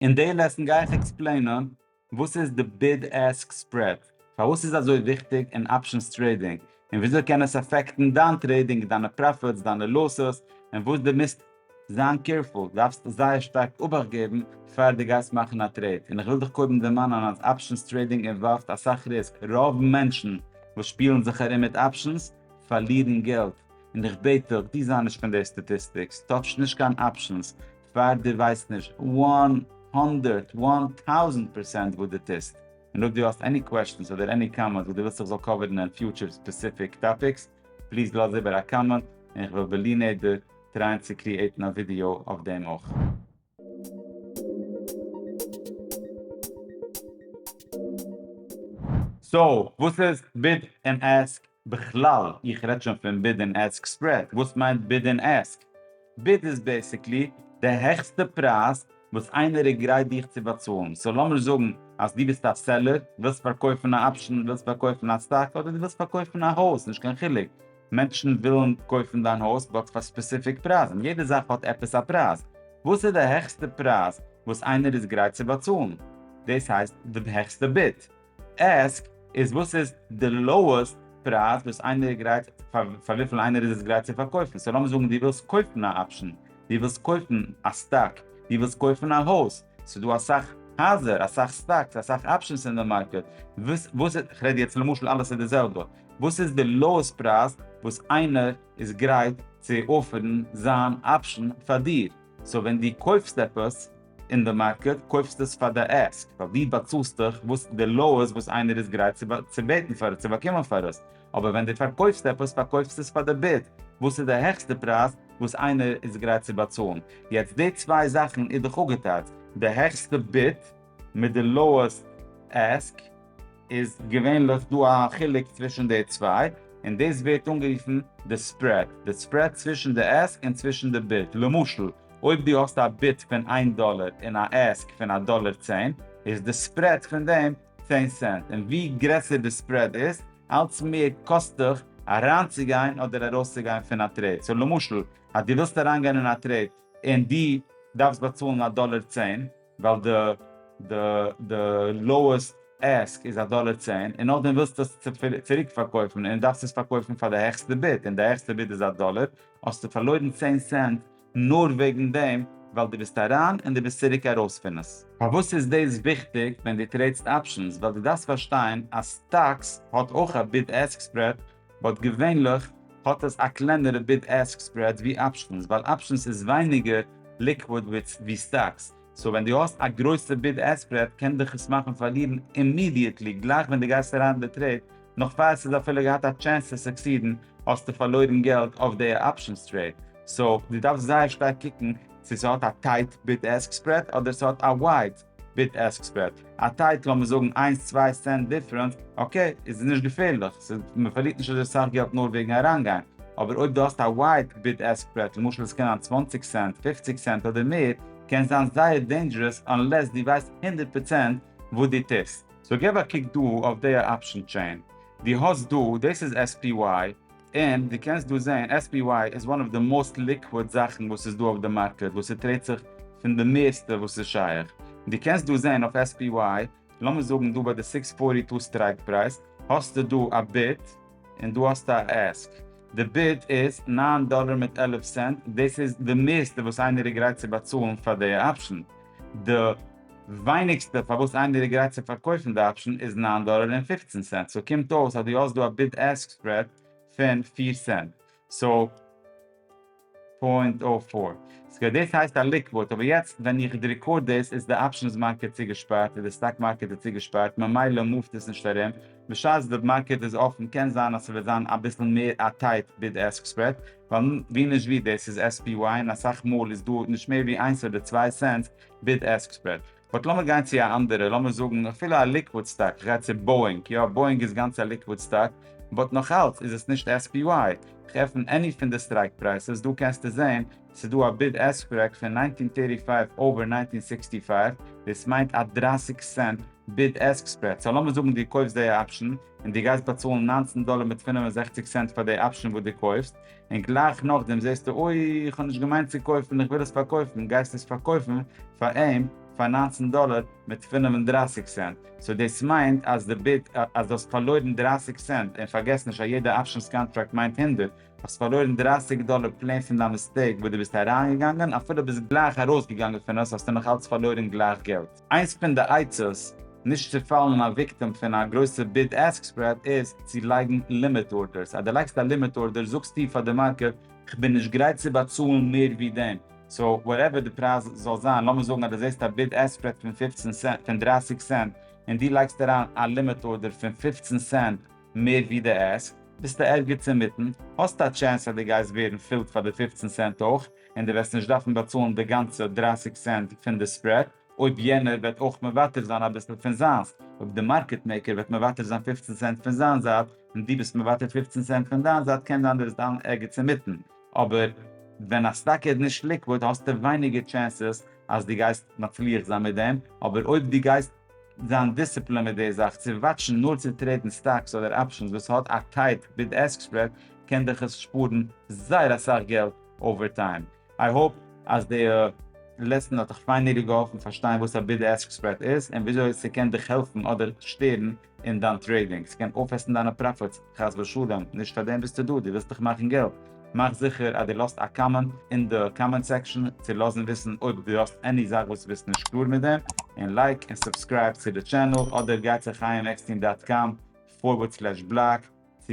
אין די לעסן גיי איך עקספלעינען וואס איז די ביד עסק ספרעד, פארוואס איז אזוי וויכטיג אין אפשענס טרעידינג, און וויאזוי קען עס אפעקטן דיין טרעידינג, דיינע פראפיטס, דיינע לאסס, און וואס די מוזט זיין קעירפול, דארפסט זייער שטארק אבאכט געבן, פאר די גייסט מאכן א טרעיד, און איך וויל דיך קודם דערמאנען אז אפשענס טרעידינג אינוואלווד אסאך ריסק, רוב מענטשן וואס שפילן זיך ארום מיט אפשענס פארלירן געלט, און איך בעט דיך דו זיי נישט פון די סטאטיסטיקס, טאטש נישט קיין אפשענס, פאר די ווייסט נישט וואן הונדערט וואן טאוזענט פערסענט וואס די טוסט, און אויב די האסט עני קוועשטענס אדער עני קאמענט וואס די ווילסט איך זאל קאווערן אין פיוטשער ספעסיפיק טאפיקס, פליז לאז איבער א קאמענט און איך וועל בלי נדר טרייען צו קריעטן א ווידיאו אויף דעם אויך. סאו וואס איז ביד ענד עסק? בכלל, איך רעד שוין פון ביד און עסק ספרעד, וואס מיינט ביד און עסק? ביד איז בעסיקלי די העכסטע פרייז וואס איינער איז גרייט דיך צו באצאלן, סאו לאמיר זאגן אז דו ביסט א סעלער, ווילסט פארקויפן א אפשן, ווילסט פארקויפן א סטאק, אדער דו ווילסט פארקויפן א הויז, נישט קיין חילוק, מענטשן ווילן קויפן דיין הויז באט פאר ספעסיפיק פרייז, און יעדע זאך האט עפעס א פרייז, וואס איז די העכסטע פרייז וואס איינער איז גרייט צו באצאלן? דאס הייסט די העכסטע ביד. עסק איז וואס איז די לאועסט פרייז וואס איינער איז גרייט פאר פאר וויפיל איינער איז עס גרייט צו פארקויפן סאו לאמיר זאגן דו ווילסט קויפן א אפשן דו ווילסט קויפן א סטאק דו ווילסט קויפן א הויז ס'איז דא אסאך הייזער אסאך סטאקס אסאך אפשענס אין די מארקעט וואס איז כ'רעד יעצט למשל אלעס איז די זעלבע וואס איז די לאועסט פרייז וואס איינער איז גרייט צו אפערן זיין אפשן פאר דיר סאו ווען דו קויפסט עפעס אין די מארקעט קויפסטו עס פאר די עסק ווייל דו באצאלסט דאך וואס די לאו איז וואס איינער איז גרייט צו בעטן פאר עס צו באקומען פאר עס, אבער ווען דו פארקויפסט עפעס פארקויפסטו עס פאר די ביד וואס איז די העכסטע פרייז וואס איינער איז גרייט צו באצאלן, יעצט די צוויי זאכן איז דאך אפגעטייטשט, די העכסטע ביד מיט די לאועסט עסק. איז געווענליך דא א חילוק צווישן די צוויי, און דאס ווערט אנגערופן די ספרעד, די ספרעד צווישן די עסק און צווישן די ביד, למשל אויב דו האסט א ביד פון איין דאלער און א עסק פון א דאלער צען, איז די ספרעד פון דעם צען סענט, און ווי גרעסער די ספרעד איז, אלץ מער קאסט דיך אריינצוגיין אדער ארויסצוגיין פון א טרעיד, סאו למשל אז דו ווילסט אריינגיין אין א טרעיד און דו דארפסט באצאלן א דאלער צען, ווייל די די די לאועסט עסק איז א דאלער צען און נאכדעם ווילסטו עס צוריק פארקויפן און דארפסט עס פארקויפן פאר די העכסטע ביד און די העכסטע ביד איז א דאלער האסטו פארלוירן צען סענט נאר וועגן דעם ווייל די ביסט אריין און די ביסט צוריק ארויס פון עס. פארוואס איז דאס וויכטיג ווען די טרעידסט אפשענס? ווייל די דארפסט פארשטיין אז סטאקס האט אויך א ביד עסק ספרעד באט געווענליך האט עס א קלענערע ביד עסק ספרעד ווי אפשענס ווייל אפשענס איז ווייניגער ליקוויד ווי סטאקס סאו ווען דו האסט א גרויסע ביד עסק ספרעד קען דיך עס מאכן פארלירן אימידיעטלי גלייך ווען דו גייסט אריין אין די טרעיד נאך פאר עס איז אפילו געהאט א טשענס צו סוקסידן האסטו פארלוירן געלט אויף די אפשענס טרעיד סאו דו דארפסט זייער שטארק קוקן צו ס'האט א טייט ביד עסק ספרעד אדער ס'האט א ווייד. ביט עסק ספרעד א טייט לאמיר זאגן איינס צוויי סענט דיפרענס אקעי איז נישט געפערליך ס'איז מען פארלירט נישט אזוי סאך געלט נאר וועגן אריינגיין אבער אויב דו האסט א ווייד ביט עסק ספרעד למשל עס קען זיין צוואַנציק סענט פֿופֿציק סענט אדער מער קען זיין זייער דעינדזשערעס אנלעס דו ווייסט הונדערט פראצענט וואס דו טוסט. סאו געב א קוק דא אויף די אפשן טשעין דו האסט דא דאס איז SPY און דו קענסט דא זעהן SPY איז וואן אוו די מאוסט ליקוואד זאכן וואס איז דא אויף די מארקעט וואס ס'טרעידט זיך פון די מערסטע וואס איז שייך, און דו קענסט דא זעהן אויף SPY לאמיר זאגן דא ביי די סיקס פארטי טו סטרייק פרייז האסטו דא א ביד און דא האסטו א עסק, די ביד איז נײַן דאלער מיט עלף סענט דאס איז די מערסטע וואס איינער איז גרייט צו באצאלן פאר די אפשן, די. ווייניגסטע פארוואס איינער איז גרייט צו פארקויפן די אפשן איז נײַן דאלער און פֿופֿצן סענט סאו קומט אויס אז דו האסט דא א ביד עסק ספרעד פון פֿיר סענט סאו פוינט אָ פֿאָר סקווער דאס הייסט א ליקוויד אבער יעצט ווען איך ריקארד דאס איז די אפשנס מארקעט צוגעשפארט און די סטאק מארקעט איז צוגעשפארט ממילא מאווט עס נישט ארום בשעת די מארקעט איז אפן קען זיין אז ס'וועט זיין אביסל מער א טייט ביד עסק ספרעד ווייל ווי נישט ווי דאס איז SPY און אסאך מאל איז דא נישט מער ווי איינס אדער צוויי סענטס ביד עסק ספרעד. באט לאמיר גיין צו א אנדערע, לאמיר זאגן אפילו א ליקוואד סטאק, כ'גיי צו באואינג, יא באואינג איז גאנץ א ליקוואד סטאק, באט נאך אלץ איז עס נישט SPY, כ'עפן עני פון די סטרייק פרייסעס דא קענסטו זעהן ס'איז דא א ביד עסק ספרעק פון נײַנצן הונדערט דרײַ און פֿופֿציק אווער נײַנצן הונדערט פֿיר און זיבעציק, דאס מיינט א דרײַסיק סענט ביד עסק ספרעד, סא לאמיר זאגן דו קויפסט דעי אפשן, און דו גייסט באצאלן נײַנצן דאלער מיט פֿינף און זעכציק סענט פאר דעי אפשן וואס דו קויפסט, און גלייך נאכדעם זעסטו אוי איך האב נישט געמיינט צו קויפן איך וויל עס פארקויפן גייסט עס פארקויפן פאר אים פאר נײַנצן דאלער מיט פֿינף און דרײַסיק סענט סאו דאס מיינט אז די ביד אז דו האסט פארלוירן דרײַסיק סענט און פארגעס נישט א יעדע אפשענס קאנטראקט מיינט הונדערט האסט פארלוירן דרײַסיק דאלער פלעין פון דיין מיסטעיק וואס דו ביסט אריינגעגאנגען אפילו ביסט גלייך ארויסגעגאנגען פון עס האסטו נאך אלץ פארלוירן גלייך געלט. איינס פון די עצות נישט צו פאלן א וויקטעם פון א גרויסע ביד עסק ספרעד איז צו לייגן לימיט ארדערס, אז דו לייגסט א לימיט ארדער זאגסטו פאר די מארקעט כ'בין נישט גרייט צו באצאלן מער ווי דעם, סאו וואטעווער די פרייז זאל זיין, לאמיר זאגן אז דו זעסט א ביד עסק ספרעד פון פֿופֿצן סענט, פון דרײַסיק סענט, און דו לייגסט אריין א לימיט ארדער פון פֿופֿצן סענט מער ווי די עסק, ביסטו ערגעץ אינמיטן, האסט א טשענס אז דו גייסט ווערן פילט פאר די פֿופֿצן סענט אויך, און דו וועסט נישט דארפן באצאלן די גאנצע דרײַסיק סענט פון די ספרעד אויב יענער וועט אויך מוותר זיין אביסל פון זיינס, אויב די מארקעט מעיקער וועט מוותר זיין פֿופֿצן סענט פון זיין זייט און דו ביסט מוותר פֿופֿצן סענט פון דיין זייט קען זיין דו וועסט דאן ערגעץ אינמיטן, אבער ווען א סטאק איז נישט ליקוואד האסטו ווייניגער טשענסעס אז דו גייסט מצליח זיין מיט דעם, אבער אויב דו גייסט זיין דיסציפלינד מיט די זאך צו וואטשן נאר צו טרעידן סטאקס אדער אפשענס וואס האט א טייט ביד עסק ספרעד קען דיך עס שפארן זייער אסאך געלט. אווערטיים. איי האופ אז די לעסן האט דיך פיינעלי געהאלפן פארשטיין וואס א ביד עסק ספרעד איז און וויאזוי ס'קען דיך העלפן אדער שטערן אין דיין טרעידינג. ס'קען אויפעסן דיינע פראפיטס חס ושלום, נישט פאר דעם ביסטו דא, דו ווילסט דאך מאכן געלט. מאך זיכער אז דו לאזט א קאמענט אין די קאמענט סעקשאן צו לאזן וויסן אויב דו האסט עני זאך וואס דו ביסט נישט קלאר מיט דעם, און לייק און סובסקרייב צו די טשענעל אדער גיי צו חייםעקסטין דאט קאם פארווערד סלעש בלאג צו